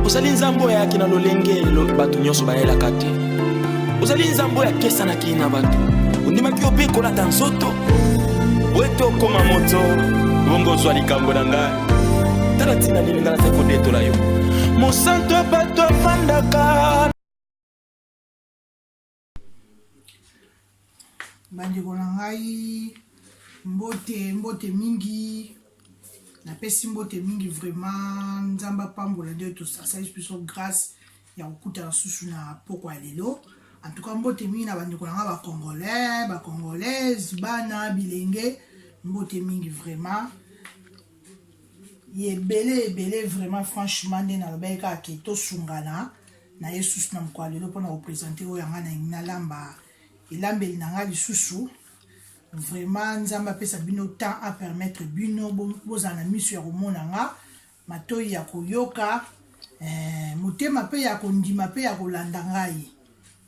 ozali nzambe oyo ayaki na lolenge bato nyonso bayelaka te ozali nzambe oyo akesanaki na bato ondimaki yo mpe kolata nzoto wete okoma moto bongo ozwa likambo na ngai tala ntina nini ngai nazali kodetola yo mosanto ya bato afandaka bandeko na ngai mbote mbote mingi napesi mbote mingi vraiment nzambe apambola nde tosasalisi biso grâce ya kokutana susu na pokwa ya lelo en tout cas mbote mingi na bandeko na ngai bacongolais bacongolaise bana bilenge mbote mingi vraiment ye ebele ebele vraiment franchement nde nalobaki kaka ke tosungana na ye susu na mokolo ya lelo mpo na kopresente oyo yanga na yangi nalamba elambeli na ngai lisusu vraiment nzambe apesa bino temps apermettre bino bozala na miso ya komona nga matoi ya koyoka eh, motema mpe ya kondima mpe ya kolanda ngai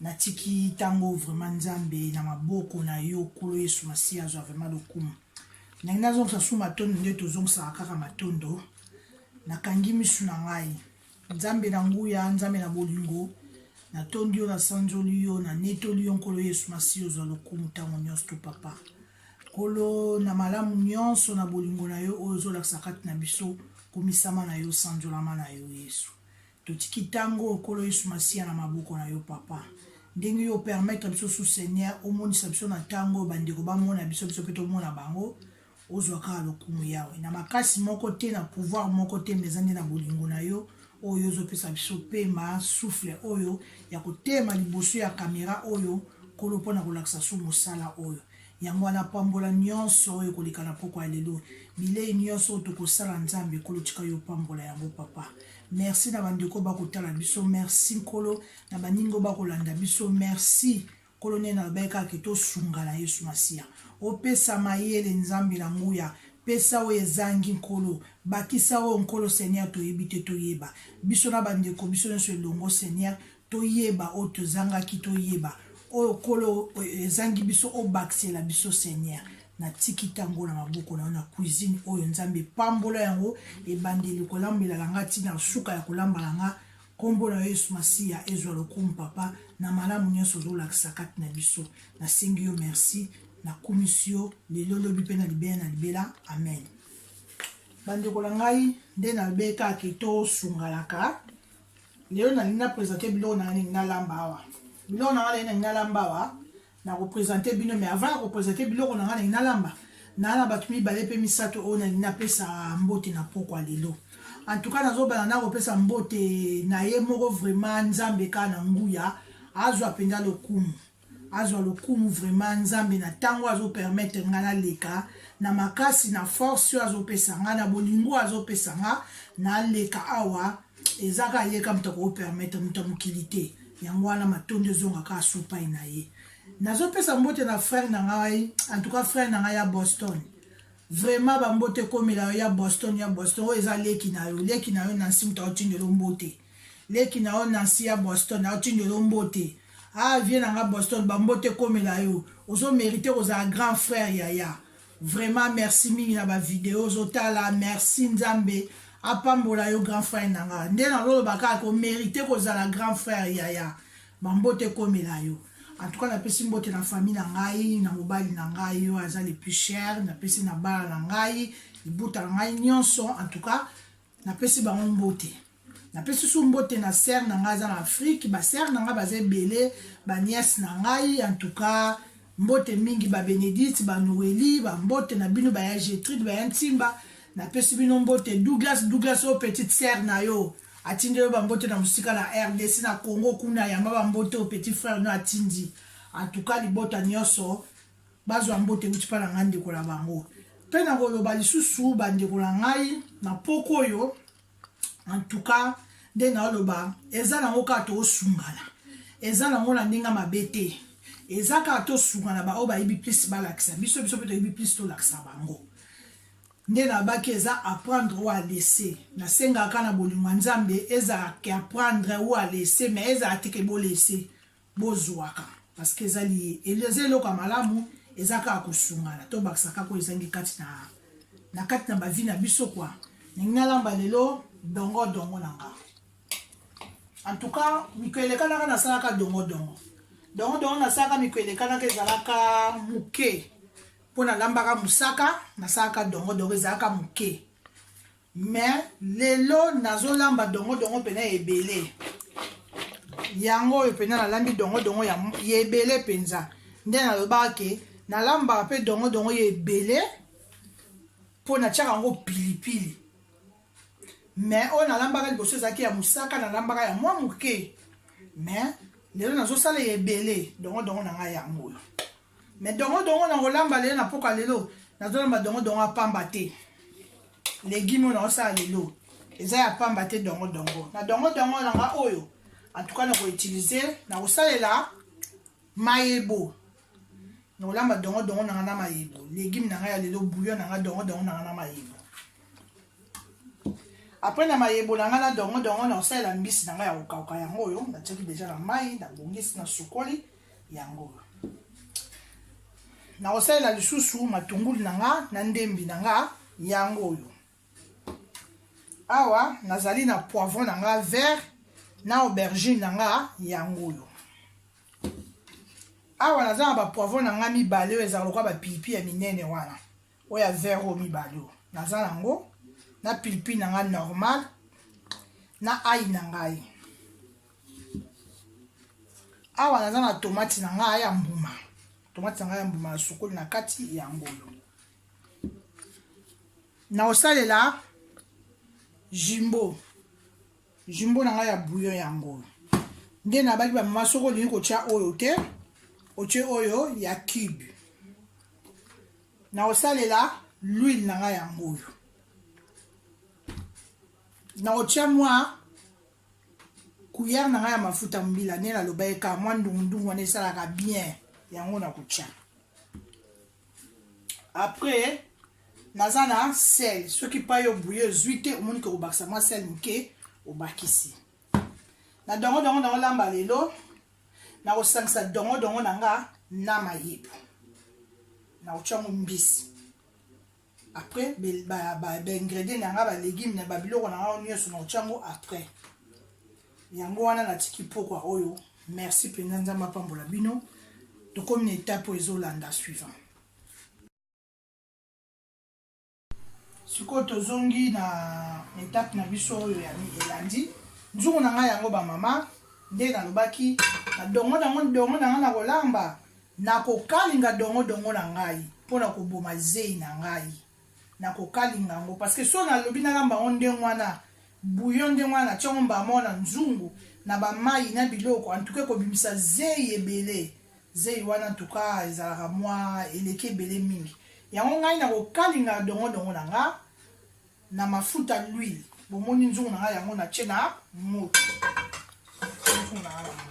natiki ntango vraiment nzambe na maboko na yo kolo yesu masiya azwa vraiment lokumu ndenge nazongisa su matondo nde tozongisaka kaka matondo nakangi misu na ngai Nzambe na nguya, Nzambe na bolingo, natondi yo, nasanzoli yo, nanetoli yo, Nkolo Yesu Masiya, ozwa lokumu ntango nyonso to papa. Nkolo, na malamu nyonso, na bolingo na yo oyo ozolakisa kati na biso, komisama na yo, sanzolama na yo, Yesu. Totiki ntango, Nkolo Yesu Masiya, na maboko na yo, papa. Ndenge yo opermettre biso su, Seigneur, omonisa biso na ntango oyo bandeko bamona biso, biso mpe tomona bango, ozwa kaka lokumu yawe na makasi moko te na pouvoir moko te mpe eza nde na bolingo na yo oyo ozopesa biso pema souffle oyo ya kotema liboso ya kamera oyo nkolo mpo na kolakisa so mosala oyo yango wana pambola nyonso oyo koleka na pokwa ya lelo bilei nyonso oyo tokosala nzambe nkolo tika yo pambola yango papa merci na bandeko bakotala biso merci nkolo na baningo bakolanda biso merci Nkolo nde nalobaki kaka ke tosunga na Yesu Masiya. Opesa mayele Nzambe na nguya, pesa oyo ezangi Nkolo, bakisa oyo Nkolo Seigneur toyebi te toyeba, biso na ba ndeko biso nionso elongo Seigneur toyeba oyo tozangaki toyeba oyo Nkolo ezangi biso obakisela biso Seigneur. Natiki tango na maboko na yo na cuisine oyo Nzambe pambola yango ebandeli kolambela na nga ti na suka ya kolamba na nga Kombo na yo yesu masiya ezwa lokumu papa na malamu nionso ozolakisa kati na biso nasengi yo merci nakumisi yo lelo lobi mpe na libela na libela amen bandeko na ngai nde nalobeli kaka ke tosunganaka lelo nalingi na presente biloko na ngai nalingi nalamba awa biloko na ngai nalingi nalingi nalamba awa na ko presenter bino mais avant ya ko presenter biloko na nga nalingi nalamba naa na bato mibale mpe misato oyo nalingi napesa mbote na pokwa lelo en tout cas nazobana na kopesa mbote na ye moko vraiment nzambe kaka na nguya azwa mpenza lokumu azwa lokumu vraiment nzambe na ntango azopermettre ngai naleka na makasi na force oyo azopesa ngai na bolingo azopesa ngai naleka awa eza kaka ye kaka moto akoki permettre moto ya mokili te yango wana matondi ezonga kaka supai na ye nazopesa mbote na frère na ngai en tout cas frère na ngai ya boston vraiment bambote ekomela yo ya boston ya boston oyo eza leki na yo leki na yo nansi moto aotindelo mbote leki na yo nansi ya boston aotindelo mbote ah vie na ngai boston bambote ekomela yo ozomerite kozala grand frère yaya Vraiment merci mingi na ba video ozotala merci nzambe apambola yo grand frère na nga nde nazoloba kaka komerite kozala grand frère yaya bambote ekomela yo en tout cas napesi mbote na famille na ngai na mobali na ngai oyo aza le plus cher napesi na bana na ngai libuta na ngai nyonso en tout cas napesi bango mbote napesi su mbote na sere na ngai aza na afrike basere na ngai baza ebele baniese na ngai antuka mbote mingi babenedite banoeli bambote na bino baya getride baya ntimba napesi bino mbote douglas douglas oyo petite sere na yo atindi yo bambote na mosika na rdc na congo kuna yamba bambote oyo petit frere no atindi antuka libota nyonso bazwa mbote euti mpa na ngai ndeko na bango mpe nakoloba lisusu bandeko na ngai na mpoko oyo en tout cas nde naoloba eza nango kaka toosungana eza nango na ndenge mabe te eza kaka tosungana baoyo bayebi plus balakisa biso biso mpe toyebi plus tolakisa bango nde nabaki eza apprendre ou alese nasengaka na bolingo ya nzambe ezala ke apprendre ou alese mais ezala te ke bolese Bozuaka parce que eza liye eza eloko ya malamu eza kaka kosungana to bakisa kaka oyo ezangi kati na na kati na bavi na biso kwa ndenge nalamba lelo dongo dongo na nga en tout cas mikolo elekanaka nasalaka dongo dongo dongo dongo nasalaka mikolo elekanaka ezalaka moke mpo nalambaka mosaka nasalaka dongo dongo ezalaka moke Mais lelo nazo lamba dongo dongo pena ebele. Yango oyo pena na lambi dongo dongo ya ebele penza. Nde na loba ke na lamba pe dongo dongo ya ebele po na tiaka ngo pili pili. Mais oyo na lambaka liboso ezaki ya musaka na lambaka ya mwa muke. Mais lelo nazo sala ebele dongo dongo na ngai yango oyo. Mais dongo dongo na kolamba lelo na poka lelo nazolamba dongo dongo ya pamba te legume oyo naosala lelo eza ya pamba te dongo dongo na dongo dongo na nga oyo antuka na koutilize na kosalela mayebo na kolamba dongo dongo na nga na mayebo legume na nga ya lelo bouillon na nga dongo dongo na nga na mayebo apres na mayebo na nga na dongo dongo na kosalela mbisi na nga ya kokauka yango oyo natiaki deja na mai nabongisi na sukoli yango nakosalela lisusu matungulu na nga na ndembi na nga yango oyo awa nazali na poivron na nga vert na aubergine na nga yango oyo awa naza na bapoivron na ngai mibale oyo ezalaka lokola bapipi ya minene wana oyo ya vert oyo mibale oyo naza nango na pilipili na ngai normal na ai na ngai awa naza na tomati na ngai ya mbuma tomati na ngai ya mbuma na sukoli na kati ya ngolo na kosalela jimbo Jumbo na ngai ya bouillon yango oyo. Nde nabaki ba mama soko olingi kotya oyo te, otye oyo ya cube. Nakosalela l'huile na ngai yango oyo. Nakotya mwa kuyere na ngai ya mafuta mbila nde nalobaki kaka mwa ndungundungu wana esalaka bien yango nakotya. après naza na sel soki pa yo bouye ozwi te omoni ke kobakisa mwa sel moke obakisi na dongo dongo nango lamba lelo nakosangisa dongo dongo na nga na mayibu nakotya yango mbisi après baingredient na nga balegume na babiloko na nga nyonso na otya yango après yango wana natiki mpokwa oyo merci mpenza nzambe apambola bino tokomi na etape oyo ezolanda suivant sikoyo tozongi na etape na biso oyo elandi nzungu na ngai yango bamama nde nalobaki na dongo nango dongo na ngai na kolamba Nakokalinga dongo-dongo na ngai mpo na koboma zeyi na ngai. Nakokalinga yango, parce que soki nalobi nalamba yango ndenge wana, bouillon ndenge wana, natie yango mbala moko na nzungu, na ba mayi, na biloko, en tout cas ekobimisa zeyi ebele. Zeyi wana en tout cas ezalaka mwa, eleki ebele mingi. Yango ngai nakokalinga dongo-dongo na nga na mafuta, l'huile. Bomoni nzungu na nga yango natie na moto. Nzungu na nga na moto.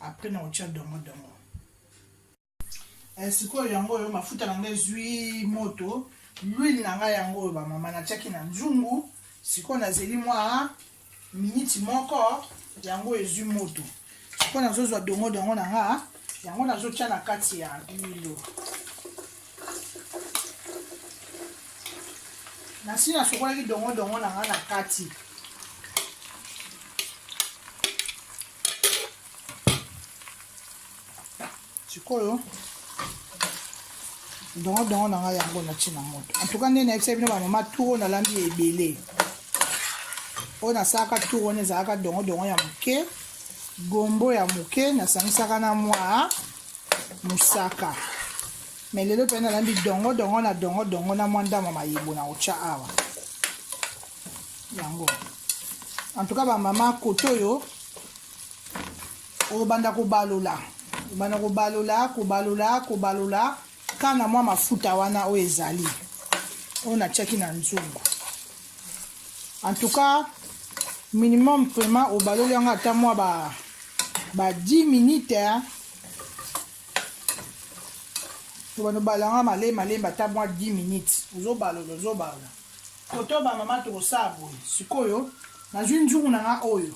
après na otia dongo dongo eh, sikoyo yango oyo mafuta na ngai ezwi moto lwile na ngai yango oyo bamama natiaki na nzungu sikoyo nazeli mwa miniti moko yango ezwi moto sikoyo nazozwa dongo dongo na nga yango nazotya na kati ya lilo nasi nasokolaki dongo dongo na nga na kati sikoyo dongodongo na ngai yango nati na moto antuka nde nayebisa bino bamama turo nalambi ya ebele oyo nasalaka turo wana ezalaka dongodongo ya moke gombo ya moke nasangisaka na mwa mosaka me lelo mpe nalambi dongodongo na dongodongo na mwa ndama mayebo na kotya awa yango en tout cas ba mama kote oyo obanda kobalola obanda kobalola kobalola kobalola ka na mwa mafuta wana oyo ezali oyo natiaki na nzungu en tout cas minimum vraiment obaloli yango ata mwa ba, ba 10 minute obanda obalanga malembe malembe ata mwa 10 minute ozobalola ozobalola Poto ba mama tokosala boye sikoyo nazwi nzungu na ngai oyo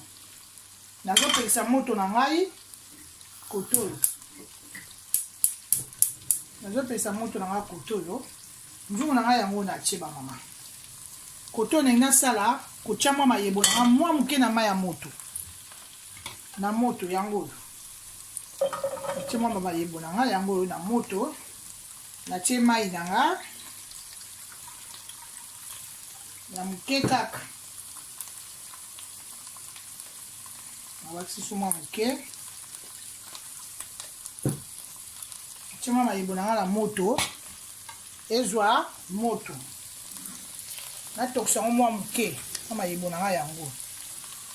nazopelisa moto na ngai kotoyo nazopelisa moto na ngai kotoyo nzungu na ngai yango natie ba mama kotoyo ndenge nasala kotya mwa mayebo na ngai mwa moke na mai ya moto na moto yango oyo natie mwa mayebo na ngai yango oyo na moto natie mai na nga ya moke kaka nabakisi suma moke atie mwa mayebo na nga na moto ezwa moto natokisa yango mwa moke na mayebo na nga yango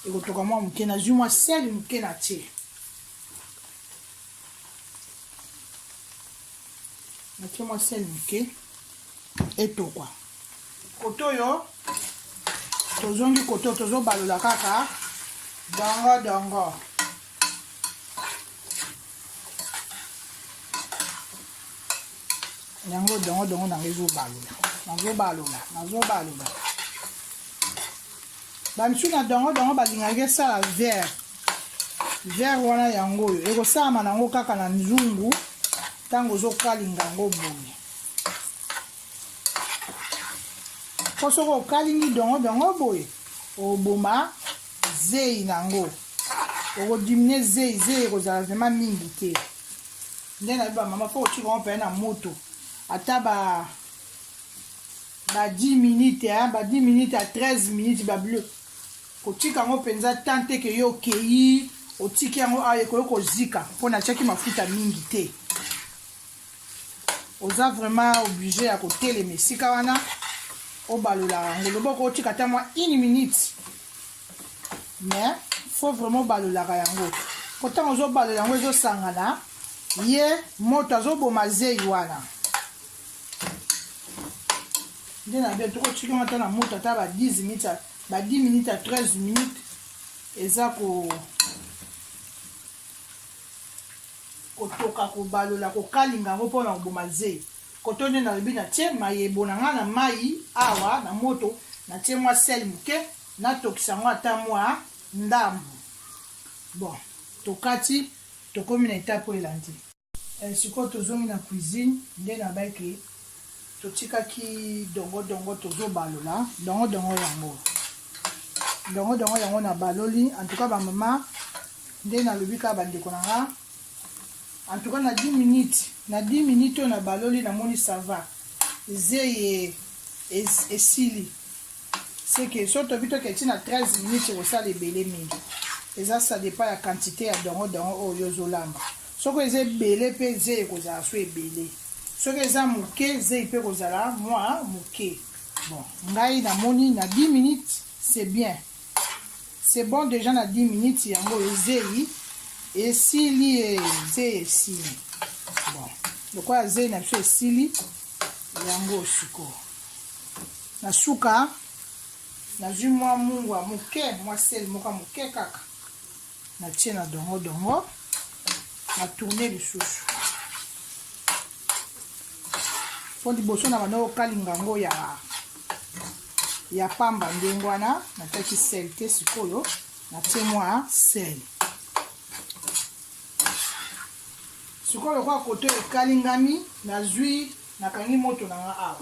ekotoka mwa moke nazwi mwa sele moke na tie natie mwa sel moke etokwa koto oyo tozongi koto tozobalola kaka dongo dongo yango dongo dongo nango ezobalola nazobalola nazobalola bamisu na dongo dongo balingaki esala vert vert wana yango oyo ekosalama na yango kaka na nzungu ntango ozokalinga yango boye mpo soki okalingi dongo dongo boye oboma zei na yango okodimine zei zei ekozala vrema mingi te nde nayebi bamama mpo otika yango mpena na moto ata ba ba 10 minutes hein, ba 10 minutes à 13 minutes ba bleu Kotika yango penza temps te ke yo okeyi otiki yango awa ekoki kozika mpo natiaki mafuta mingi te. Oza vraiment oblige ya kotelema esika wana obalola yango loboko otika ata mwa une minute mais faut vraiment obalolaka yango mpo ntango ozobalola yango ezosangana ye moto azoboma zeyi wana nde na bia tokotika yango ata na moto ata ba 10 minutes ba 10 minutes à 13 minutes eza ko kotoka kobalola kokalinga yango mpo na koboma ze koto nde nalobi natie mayebo na ngai na mai awa na moto natie mwa sel moke natokisa yango ata mwa ndambo bon tokati tokomi na etape oyo elandi Eh sikoyo tozongi na cuisine nde na bai ke totikaki dongo dongo tozobalola dongo dongo yango dongo dongo yango na baloli en tout cas ba mama nde nalobi kaka bandeko na nga en tout cas na 10 minutes na 10 minutes oyo na baloli namoni sava zeye esili seke so tobi toke ti na 13 minutes ekosala ebele mingi eza ça dépend ya quantité ya dongo dongo oyo ozolamba soki eza ebele mpe ze ekozala so ebele soki eza moke zei mpe ekozala mwa moke bon ngai namoni na 10 minutes c'est bien c'est bon déjà na 10 minutes yango ezei esili ezei esili bon lokola zei na biso esili yango sikoyo Na suka, nazwi mwa mungwa moke, mwa sel moko ya moke kaka, natie na dongo-dongo, na tourne lisusu. Mpo liboso na banda kokalinga yango ya ya pamba ndenge wana natiaki sel te sikoyo natie mwa sel sikoyo lokola koto ekalingami nazwi nakangi moto na nga awa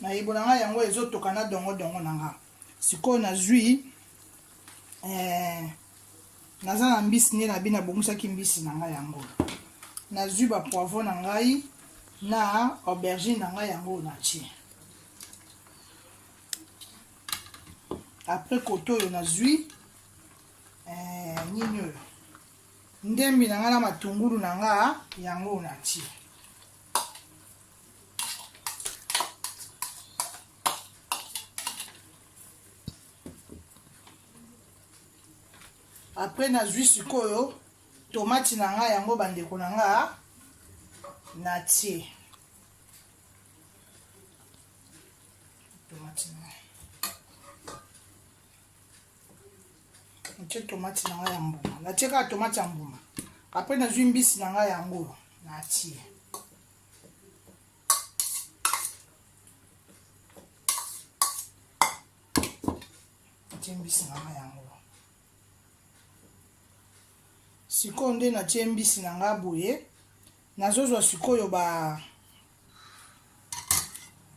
mayibo na ngai yango ezotoka na dongodongo na ngai sikoyo nazwi eh, naza na mbisi nde na bi nabongisaki mbisi na ngai yango nazwi bapoivro na ngai na aubergine na ngai yango natie apres kote oyo nazwi eh, nini oyo ndembi na ngai na matungulu na nga yango na ti apres nazwi sikoyo tomati na ngai yango bandeko na nga na tie tomati na ngai natie tomate na ngai ya mbuma natie kaka tomate ya mbuma apres nazwi mbisi na ngai yango natie natie mbisi na ngai yango sikoyo nde natie mbisi na ngai boye Nazozwa sikoyo ba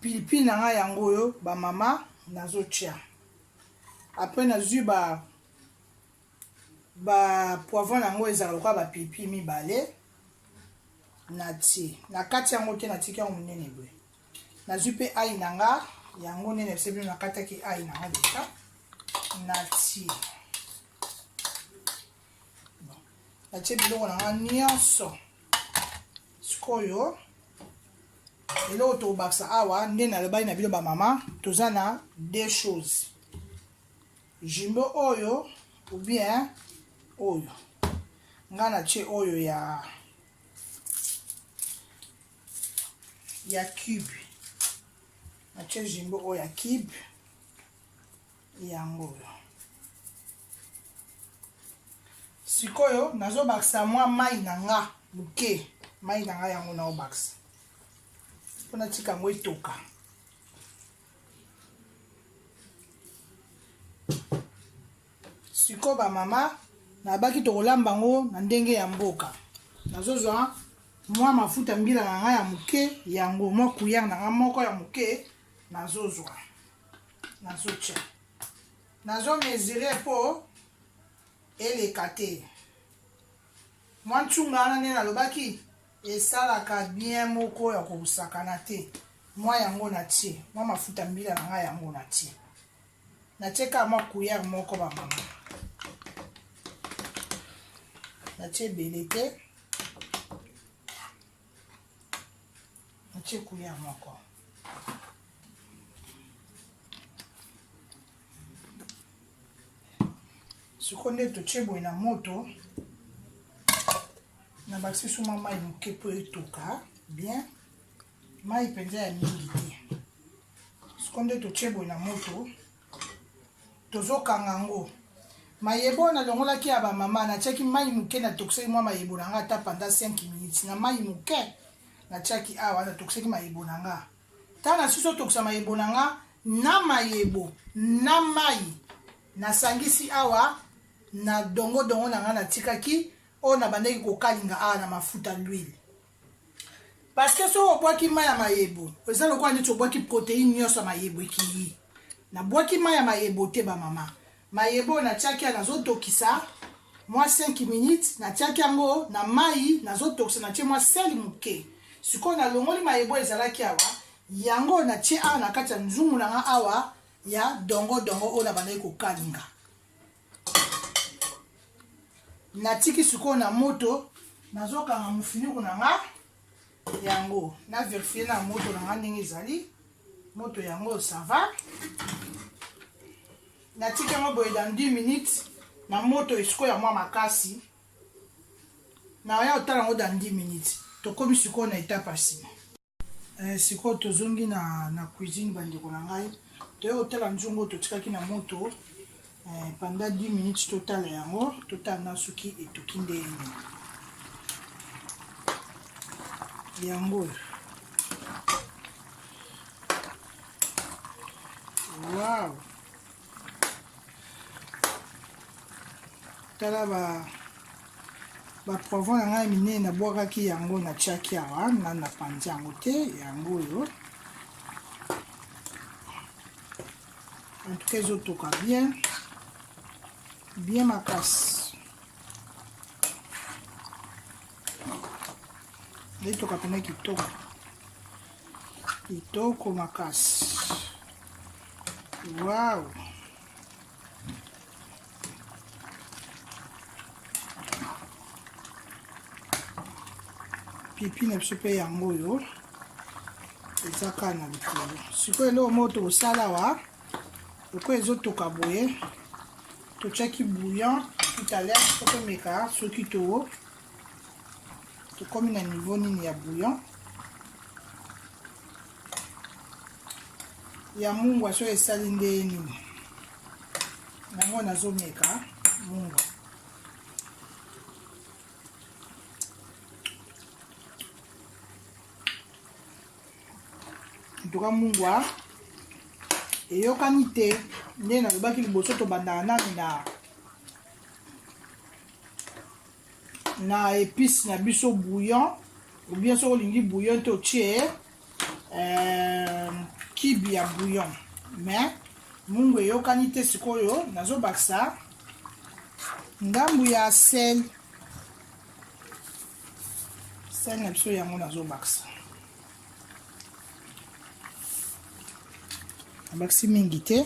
pilipili na ngai yango oyo ba mama nazotia apres nazwi ba ba poivron yango ezalaka lokola ba pilipili mibale natie na kati yango te natiki yango monene boye nazwi mpe ai na nga yango nene biso bino nakataki ai na nga leta natie natie biloko na nga nyonso sikoyo eloko tokobakisa awa nde nalobaki na bino bamama toza na deux choses jumbo oyo ou bien oyo ngai natie oyo ya ya cube natie jumbo oyo ya cube yango oyo sikoyo nazobakisa mwa mai na nga moke mai na nga yango naobakisa mpo natika yango etoka sikoyo bamama nabaki tokolamba yango na ndenge ya mboka nazozwa mwa mafuta mbila na nga ya moke yango mwa kuyere na nga moko ya moke nazozwa nazotya nazo mesure mpo eleka te mwa ntunga wana nde nalobaki esalaka bien moko ya kosakana te mwa yango natie mwa mafuta mbila na ngai yango natie natie kaka mwa kuyere moko bamama natie ebele te Natie couleur moko. Sikoyo nde totie boye na moto. na bakisi suma mai moke mpo etoka bien mai mpenza ya mingi te siko nde totie boye na moto Tozokanga yango. Mayebo oyo nalongolaki ya ba mama, natiaki mayi moke, natokisaki mwa mayebo na nga ata pendant 5 minutes na mayi moke natiaki awa, natokisaki mayebo na nga. Tango nasusi otokisa mayebo na nga, na mayebo na mayi nasangisi awa na dongo dongo na nga natikaki oyo nabandaki kokalinga awa na mafuta, l'huile. parce que soki obwaki mai ya mayebo eza lokola neti obwaki proteine nyonso ya mayebo ekei nabwaki mai ya mayebo te bamama mayebo natiaki ya nazotokisa mwa 5 minutes natiaki yango na mai nazotokisa natie mwa sele moke sikoyo nalongoli mayebo ezalaki awa yango natie awa na kati ya nzungu na nga awa ya dongo dongo oyo nabandaki kokalinga natiki sikoyo na moto nazokanga mofinuku na nga yango na verifie na moto na nga ndenge ezali moto yango sava natiki yango boye dans 10 minutes na moto esiko ya mwa makasi na ya otala yango dans 10 minutes tokomi sikoyo na etape ya nsima Eh, sikoyo tozongi na, na cuisine bandeko na ngai toye kotala nzungu oyo totikaki na moto eh, panda 10 minutes totala yango totala na soki etoki ndenge yango oyo wow. tala ba baprovo na ngai minene nabwakaki yango na tiaki awa na napanzi yango te yango oyo antuka ezotoka bien bien makasi etoka mpena kitoko kitoko makasi Wow. pipi na biso mpe yango oyo eza kaka na likolo sikoyo eloko moko tokosala wa lokola ezotoka boye totyaki bouillon tutaler tokomeka soki to tokomi na niveau nini ya bouillon ya mungwa soki esali ndenge nini yango nazomeka mungwa ntuka mungwa eyokani te nde nalobaki liboso tobandaka nani na na épice na biso bouillon ou bien soki olingi bouillon te otie euh, kibi ya bouillon mais mungu eyokani te sikoyo nazobakisa ndambu ya sel sel na biso yango nazobakisa nabakisi mingi te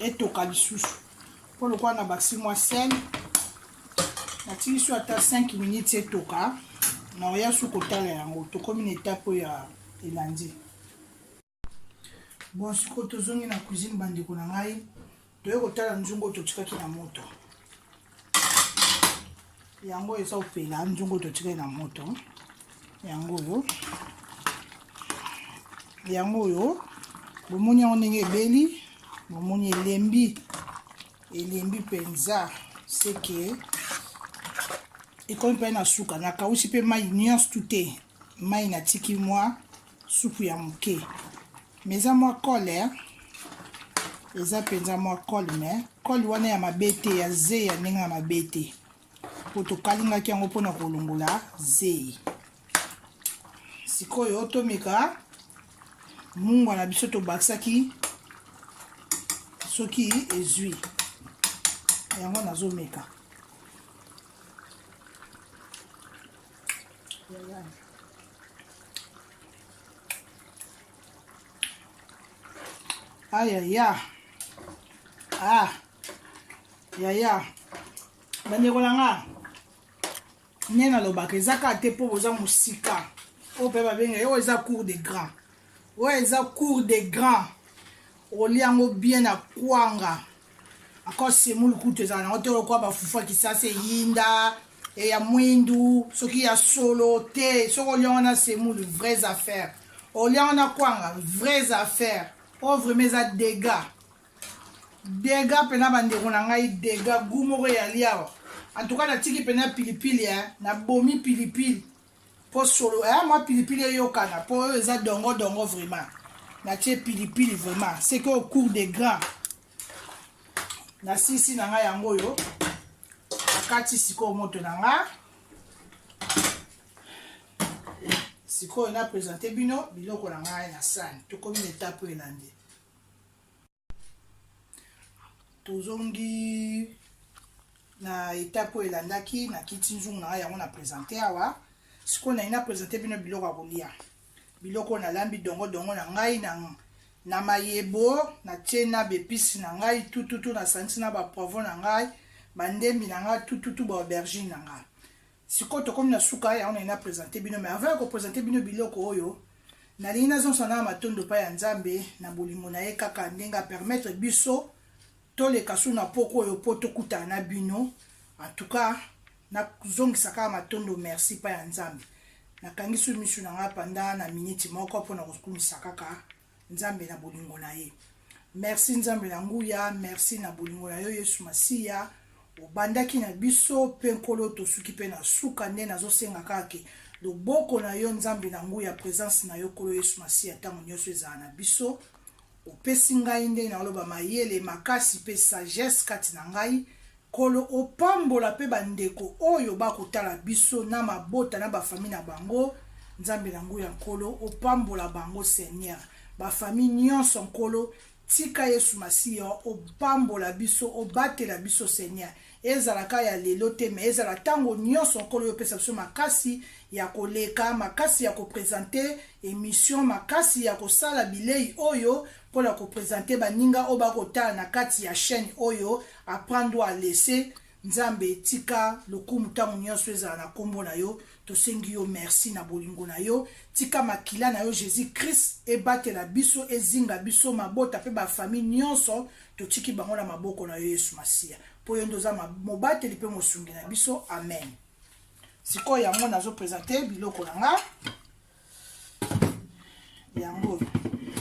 etoka lisusu mpo lokola na basi mwa sel natiki so ata 5 minutes etoka na oya su kotala yango tokomi na etape oyo ya elandi bon sikoyo tozongi na cuisine bandeko na ngai toye kotala nzungu oyo totikaki na moto yango eza opela nzungu totikali na moto yango oyo yango oyo bomoni yango ndenge ebeli bomoni elembi elembi mpenza seke ekomi mpe na suka nakausi mpe mai nyonso tute mai natiki mwa supu ya moke me eza mwa kole eza mpenza mwa kole me kole wana ya mabe te ya zei ya ndenge ya mabe te mpo tokalingaki yango mpona kolongola zei sikoyo tomeka mungwa na biso tobakisaki soki ezwi yango nazomeka aya ya ah yaya bandeko na nga nde nalobaka eza kaka te mpo boza mosika oyo mpe babenga ye oyo eza cour de grand oyo eza cour de grand olia yango bien na kwanga Encore semoule kutu ezala nango te lokola bafufu ya kisasa eyinda e ya mwindu soki ya solo te soki olia wana semoule vraies affaires olia wana kwanga vraies affaires oyo vraiment eza dega dega mpena bandeko na ngai dega gu moko eyali awa en tout cas natiki mpena pilipili eh? nabomi pilipili Po solo eh mwa pilipili eyokana po oyo eza dongo dongo vraiment. Natie pilipili vraiment. C'est que au cours des grands. Nasisi na nga yango yo. Nakati sikoyo moto na nga. sikoyo na presente bino biloko na ngai na sani tokomi na etape oyo elandi tozongi na etape oyo elandaki na kiti nzungu na ngai yango na presente awa sikoyo nayi na presente bino biloko ya kolia biloko oyo nalambi dongo dongo na ngai na na mayebo natie na bepisi na ngai tututu nasangisi na bapoivon na ngai bandembi na ngai tututu baaubergine na ngai Sikoyo tokomi na suka yango naye na presente bino mais avant ya ko presente bino biloko oyo nalingi nazongisa na matondo epai ya nzambe na bolingo na ye kaka ndenge apermettre biso toleka su na poko oyo mpo tokutana na bino antuka nazongisa kaka matondo merci epai ya nzambe nakangi su misu na ngai panda na miniti moko mpo na kokumisa kaka Nzambe na bolingo na ye. Merci Nzambe na nguya, merci na bolingo na yo Yesu Masiya. Obandaki na biso mpe Nkolo tosuki mpe na suka nde nazosenga kaka ke loboko na yo Nzambe na nguya, presence na yo Nkolo Yesu Masiya ntango nyonso ezala na biso. Opesi ngai nde naoloba mayele makasi mpe sagesse kati na ngai Nkolo opambola pe ba ndeko oyo ba kotala biso na mabota na ba famille na bango nzambe na nguya nkolo opambola bango seigneur ba famille nionso nkolo tika yesu masiya opambola biso obatela biso seigneur ezala ka ya lelo te mais ezala tango nionso nkolo yo pesa biso makasi ya koleka makasi ya kopresente emission makasi ya kosala bilei oyo mpo na kopresente baninga oyo bakotala na kati ya chaîne oyo Apprendre ou à laisser nzambe tika lokumu ntango nyonso ezala na nkombo na yo tosengi yo merci na bolingo na yo tika makila na yo jésus christ ebatela biso ezinga biso mabota mpe bafamille nyonso totiki bango na maboko na yo yesu masiya mpo yo nde oza mobateli mpe mosungi na biso amen sikoyo yango nazopresente biloko na nga yango oyo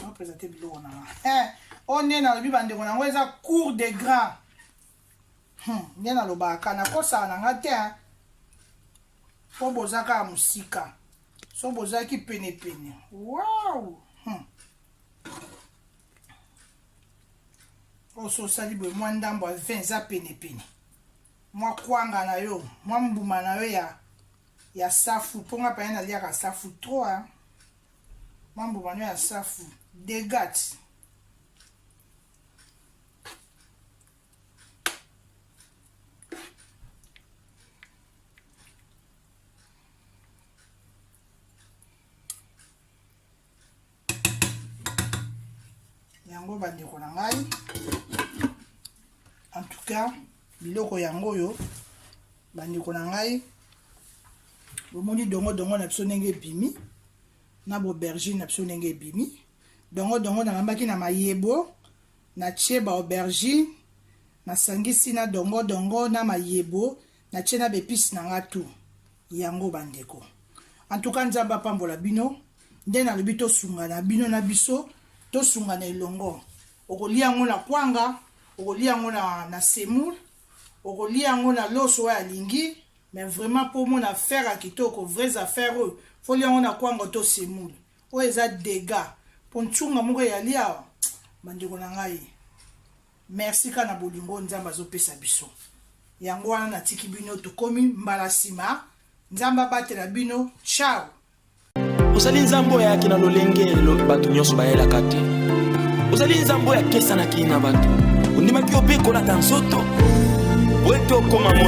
napresente biloko na nga eh, oyo nde nalobi bandeko na yango eza cour de grand hmm, nde nalobaka nakosaka na nga te mpo boza kaka mosika so bozalaki penepene wow hmm. oso osali boye mwa ndambo ya 20 eza penepene mwa kwanga na yo mwa mbuma na yo ya ya safu po nga paya naliaka safu trop hein mwa mbuma no ya safu degat yango bandeko na ngai en tout cas biloko yango oyo bandeko na ngai bomoni dongo dongo na biso ndenge ebimi na bobergine na biso ndenge ebimi dongo dongo nalambaki na mayebo natie baaubergine nasangisi na dongo dongo na mayebo na tie na bepisi na nga tu yango bandeko antuka nzambe apambola bino nde nalobi tosungana bino na biso tosungana elongo okolia yango na kwanga okolia yango na, na semoul okolia yango na loso oyo alingi mais vraiment mpo omona affaire ya kitoko vraies affaire oyo folia yango na kwanga to semoul oyo eza dega mpo ntunga moko eyali awa bandeko na ngai Merci ka na bolingo oyo Nzambe azopesa biso. Yango wana natiki bino tokomi mbala nsima. Nzambe abatela bino. Ciao. Ozali Nzambe oyo ayaki na lolenge bato nyonso bayelaka te. Ozali Nzambe oyo akesanaki na bato. Ondimaki opekolaka nzoto. Wetu okoma moto.